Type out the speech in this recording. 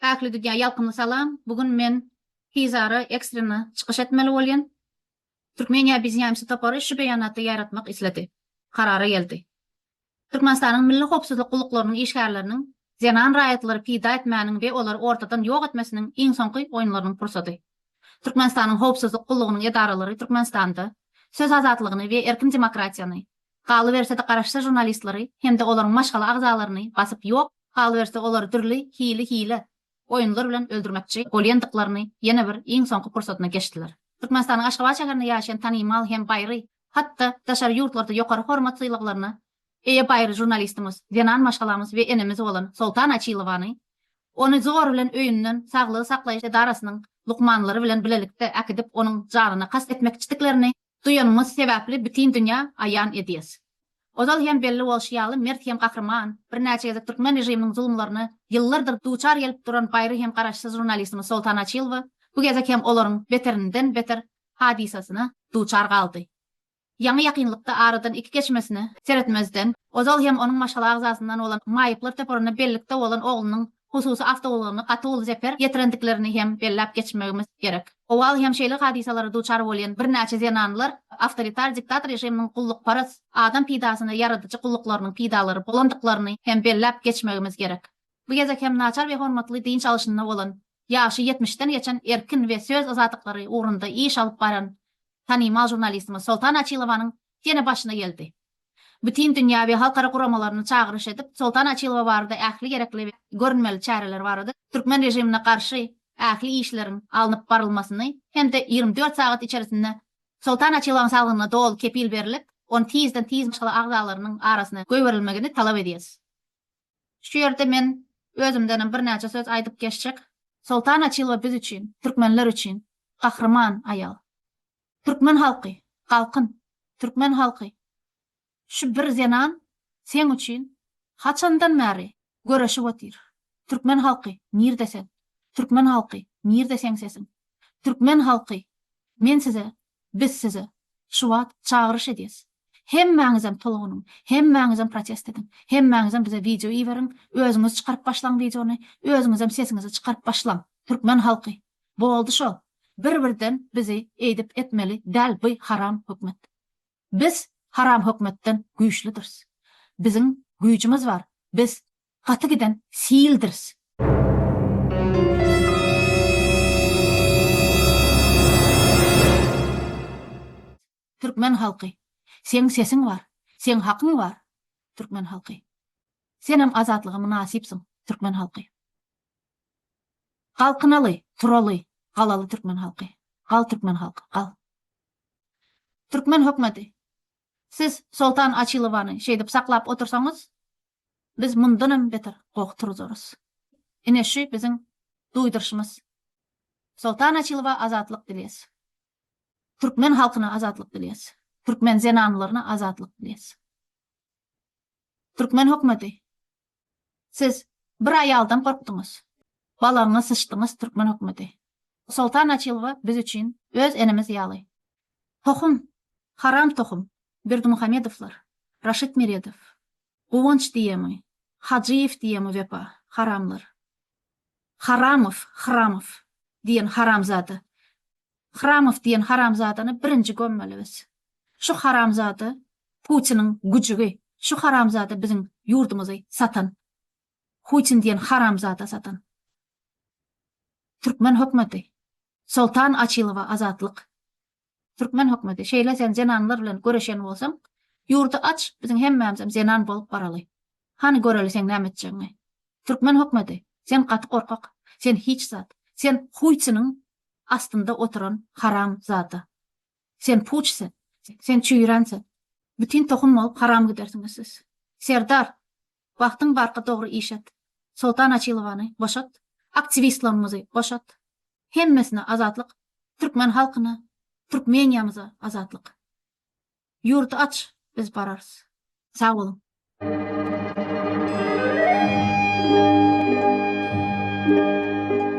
Päkli Didýa ýalkymly salam! Bu gün men tizara ekstrena çykyş etmeli bolýan. Türkmeniýa bizneýmsi topary şu beýanaty ýaýratmak isledi. Karara geldi. Türkmenistanyň Milli howpsuzlyk gulluklarynyň işgärleriniň zenan raýatlary pida etmäniň we olary ortadan ýok etmesiniň iň soňky oýunlarynyň pursady. Türkmenistanyň howpsuzlyk gullugynyň edaralary Türkmenistanda söz azatlygyny we erkin demokratiýany, galyberse-de garaşsyz žurnalistleri hem-de olaryň maşgala agzalaryny basyp ýok, galyberse olary dürli hili-hile oýunlar bilen öldürmekçi bolýandyklaryny ýene bir iň soňky pursatyna geçdiler. Türkmenistanyň Aşgabat şäherinde ýaşaýan tanymal hem baýry, hat-da daşary ýurtlarda ýokary hormat-sylaglaryna eýe baýry žurnalistimiz, zenan maşgalamyz we enemiz bolan Soltan Açilowany, ony zor bilen öýünden saglygy saklaýyş edarasynyň lukmanlary bilen bilelikde äkidip onuň janyna kast etmekçidiklerini Duýanyňyz sebäpli bütin dünýä aýan edýäs. Ozal hem belli bolşy ýaly mert hem gahryman, birnäçe gezek türkmen režiminiň zulumlaryna ýyllardyr duçar gelip duran baýry hem garaşsyz žurnalistimiz Soltan Açylowa bu gezek hem olaryň beterinden beter hadysasyna duçar galdy. Ýaňy ýakynlykda aradan iki geçmesine seretmezden ozal hem onuň maşgala agzasyndan bolan maýyplar toparyna bellikde bolan oglunyň hususy awtoulagny gaty uly zeper ýetirendiklerini hem belläp geçmegimiz gerek. Owal hem şeýle hadysalara duçar bolýan birnäçe zenanlar awtoritar diktator režiminiň gullukparaz, adam peýdasyna ýaradyjy gulluklarynyň peýdalary bolandyklaryny hem belläp geçmegimiz gerek. Bu gezek hem naçar we hormatly dynç alşynda bolan, ýaşy ýetmişden geçen erkin we söz azatlyklary ugrunda iş alyp baran tanymal žurnalistimiz Soltan Açilowanyň ýene başyna geldi. bütin dünýä we halkara guramalaryny çagyryş edip, Soltan Açylowa barada ähli gerekli we görünmeli çäreler barada türkmen režimine garşy ähli işleriň alnyp barylmasyny hem-de ýigrimi dört sagat içerisinde Soltan Açylowyň saglygyna doly kepil berilip, ony tizden tiz maşgala agzalarynyň arasyna goýberilmegini talap edýäris. Şu ýerde men özümdenem birnäçe söz aýdyp geçjek. Soltan Açylowa biz üçin, türkmenler üçin gahryman aýal. Türkmen halky, galkyn! Türkmen halky! Şu bir zenan seň üçin haçandan bäri göreşip otyr. Türkmen halky, nirde sen? Türkmen halky, nirde seň sesiň? Türkmen halky, men size, biz size şu wagt çagyryş edýäs. Hemmäňizem tolgunyň, hemmäňizem protest ediň. Hemmäňizem bize wideo iberiň, özüňiz çykaryp başlaň wideony, özüňizem sesiňizi çykaryp başlaň. Türkmen halky, Boldy şo, bir birden bizi eýdip etmeli däl by haram hökmet. Biz haram hökmetden güýçlüdiris. Biziň güýjümiz bar, biz gaty giden sildiris. Türkmen halky Seň sesiň bar Seň hakyň bar Türkmen halky Senem azatlyga mynasypsyň Türkmen halky Galkynaly turaly galaly Türkmen halky Gal Türkmen halky gal Türkmen hökmeti Siz Soltan Açilowany şeýdip saklap otursaňyz biz mundanam beter goh turuzarys ine şü biziň duýdyryşymyz Soltan Açilowa azatlyk dilýäs. Türkmen halkyna azatlyk dilýäs. Türkmen zenanlaryna azatlyk dilýäs. Türkmen hökmeti, siz bir aýaldan gorkduňyz. Balagyňa syçdyňyz türkmen hökmeti. Soltan Açylowa biz üçin öz enemiz ýaly. Tohum, haram tohum, Berdimuhamedowlar, Raşid Meredow, Guwanç diýemi, Hajyýew diýemi wepa, haramlar. Haramow, Hramow, diýen haramzada. Hramow diýen haramzadany birinji gömmeli biz. Şu haramzada Putiniň güjügi, şu haramzada biziň ýurdumyzy satan. Hutin diýen haramzada satan. Türkmen hökmeti. Soltan Açylowa azatlyk. Türkmen hökmeti şeýle sen zenanlar bilen göreşen bolsaň ýurdy aç biziň hemmämizem zenan bolup baraly. Hany göreli seň näme etjegiňi. Türkmen hökmeti sen gaty gorkak sen hiç zat sen huýçynyň astynda oturan haram zada. Sen puç sen sen çüýrän sen. Bütin tohum bolup haram gidersiňiz siz. Serdar Wagtyň barka dogry iş et. Soltan Açilowany boşat. Aktiwistlarymyzy boşat. Hemmesine azatlyk. Türkmen halkyna, Türkmeniýamyza azatlyk. Ýurdy aç, biz bararys. Sag boluň.